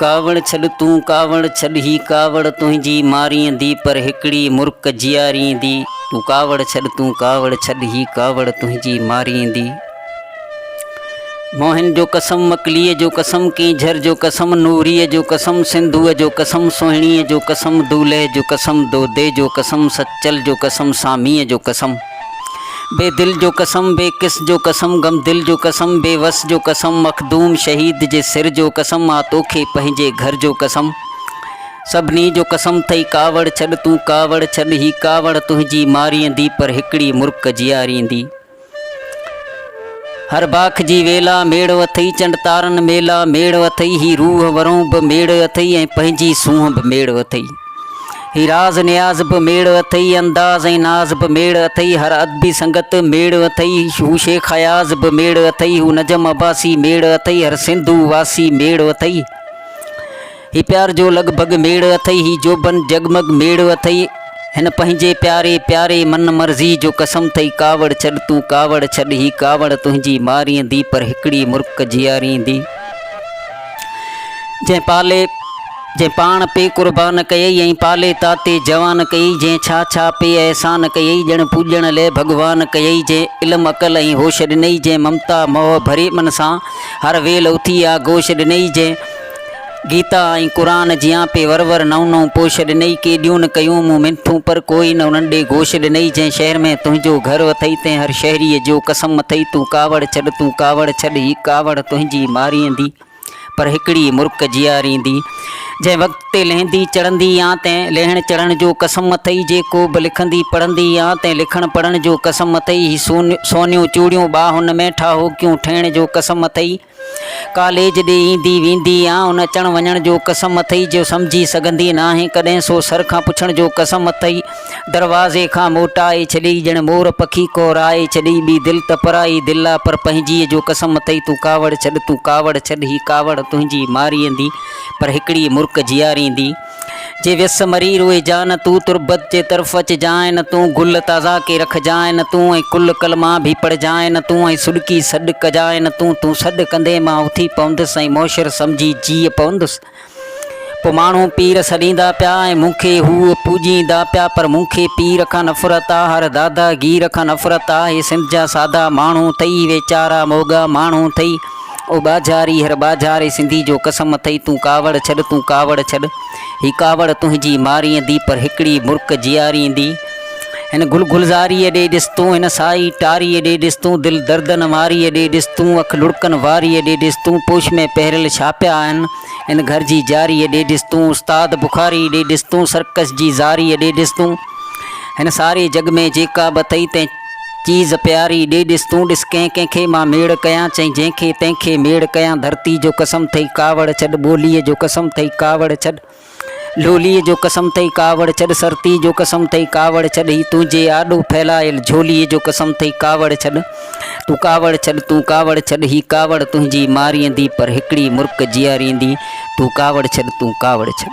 ڪاوڙ ڇڏ تون ڪاوڙ ڇڏ هي ڪاوڙ تنهنجي ماريندي پر هڪڙي مرڪ جياريندي تون ڪاوڙ ڇڏ تون ڪاوڙ ڇڏ هي ڪاوڙ تنهنجي ماريندي. موهن جو قسم، مڪليء جو قسم، ڪينجهر جو قسم، نوريء جو قسم، سنڌوء جو قسم، سهڻيء جو قسم، دولهه جو قسم، دودي جو قسم، سچل جو قسم، ساميء جو قسم، بي دل جو قسم، بي ڪس جو قسم، غمدل جو قسم، بي وس جو قسم، مخدوم شهيد جي سر جو قسم، آ توکي پنهنجي گهر جو قسم، سڀني جو قسم ٿئي ڪاوڙ ڇڏ تون ڪاوڙ ڇڏ هي ڪاوڙ تنهنجي ماريندي پر هڪڙي مرڪ جياريندي. هر باک جي ويلا ميڙ اٿئي، چنڊ تارن ميلا ميڙ اٿئي، هي روح ورون به ميڙ اٿئي ۽ پنهنجي سونهن به ميڙ اٿئي. هي راز نياز به ميڙ اٿئي، انداز ۽ ناز به ميڙ اٿئي، هر ادبي سنگت ميڙ اٿئي، هو شيخ اياز به ميڙ اٿئي، هو نجم عباسي ميڙ اٿئي، هر سنڌو واسي ميڙ اٿئي. هي پيار جو لڳ ڀڳ ميڙ اٿئي هي جوڀن جڳمڳ ميڙ اٿئي هن پنهنجي پياري پياري من مرضي جو قسم ٿئي ڪاوڙ ڇڏ تون ڪاوڙ ڇڏ هي ڪاوڙ تنهنجي ماريندي پر هڪڙي مرڪ جياريندي جنهن پالي جنهن پاڻ پي قربان ڪيئي ۽ پالي تاتي جوان ڪيئي جنهن ڇا ڇا پي احسان ڪيئي ڄڻ پوڄڻ لئه ڀڳوان ڪيئي جنهن علم عقل ۽ هوش ڏنئي جنهن ممتا موهه ڀري من سان هر ويل اٿي آ گوش ڏنئي جنهن گيتا ۽ قرآن جيان پي ور ور نئون نئون پوش ڏنئي ڪيڏيون نه ڪيون مون منٿون پر ڪوئي نه انهن ڏي گوش ڏنئي جنهن شهر ۾ تنهنجو گهر اٿئي تنهن هر شهريء جو قسم اٿئي تون ڪاوڙ ڇڏ تون ڪاوڙ ڇڏ هي ڪاوڙ تنهنجي ماريندي پر هڪڙي مرڪ جياريندي جنهن وقت تي لهندي چڙهندي يا تنهن لهڻ چڙهڻ جو قسم اٿئي جي ڪوبه لکندي پڙهندي يا تنهن لکڻ پڙهڻ جو قسم اٿئي هي سونيون چوڙيون ٻاهن ۾ ٺاهوڪيون ٺهڻ جو قسم اٿئي ڪاليج ڏي ايندي ويندي يا ان اچڻ وڃڻ جو قسم اٿئي جو سمجهي سگهندي ناهين ڪڏهن سو سر کان پڇڻ جو قسم اٿئي دروازي کان موٽائي ڇڏيئي ڄڻ مور پکي ڪورائي ڇڏيئي ٻي دل ته پرائي دل آ پر پنهنجيء جو قسم اٿئي تون ڪاوڙ ڇڏ تون ڪاوڙ ڇڏ هي ڪاوڙ تنهنجي ماريندي پر هڪڙي مرڪ جياريندي. جي ويس مري روئي جان تون تربت جي طرف اچ جان تون گل تازا ڪي رک جان تون ۽ ڪل ڪلما ڀي پڙھ جان تون ۽ سڏڪي سڏ ڪھ جان تون تون سڏ ڪندي مان اٿي پوندس ۽ موشر سمجھي جيء پوندس پو ماڻھو پير سڏيندا پيا ۽ مون کي ھو پوڄيندا پيا پر مون کي پير کان نفرت آ ھر دادا گير کان نفرت آ ھي سنڌ جا سادا ماڻھو ٿئي ويچارا موڳا ماڻھو ٿئي او ٻاجهار ايهر ٻاجهار اي سنڌي جو قسم اٿئي تون ڪاوڙ ڇڏ تون ڪاوڙ ڇڏ هي ڪاوڙ تنهنجي ماريندي پر هڪڙي مرڪ جياريندي هن گل گلزاريء ڏي ڏس تون هن سائي ٽاريء ڏي ڏس تون دل دردن واريء ڏي ڏس تون اک لڙڪن واريء ڏي ڏس تون پوش ۾ پهريل ڇا پيا آهن هن گهر جي جاريء ڏي ڏس تون استاد بخاري ڏي ڏس تون سرڪس جي زاريء ڏي ڏس تون هن ساري جڳ ۾ جيڪا به اٿئي تنهن چيز پياري، ڏي ڏس تون ڏس ڪنهن ڪنهن کي مان ميڙ ڪيان، چئين جنهن کي تنهن کي ميڙ ڪيان، ڌرتي جو قسم ٿئي ڪاوڙ ڇڏ، ٻوليء جو قسم ٿئي ڪاوڙ ڇڏ، لوليء جو قسم ٿئي ڪاوڙ ڇڏ، سرتيء جو قسم ٿئي ڪاوڙ ڇڏ، هي تنهنجي آڏو ڦهلايل جهوليء جو قسم ٿئي ڪاوڙ ڇڏ، تون ڪاوڙ ڇڏ، تون ڪاوڙ ڇڏ، هي ڪاوڙ تنهنجي ماريندي پر هڪڙي مرڪ جياريندي، تون ڪاوڙ ڇڏ، تون ڪاوڙ ڇڏ.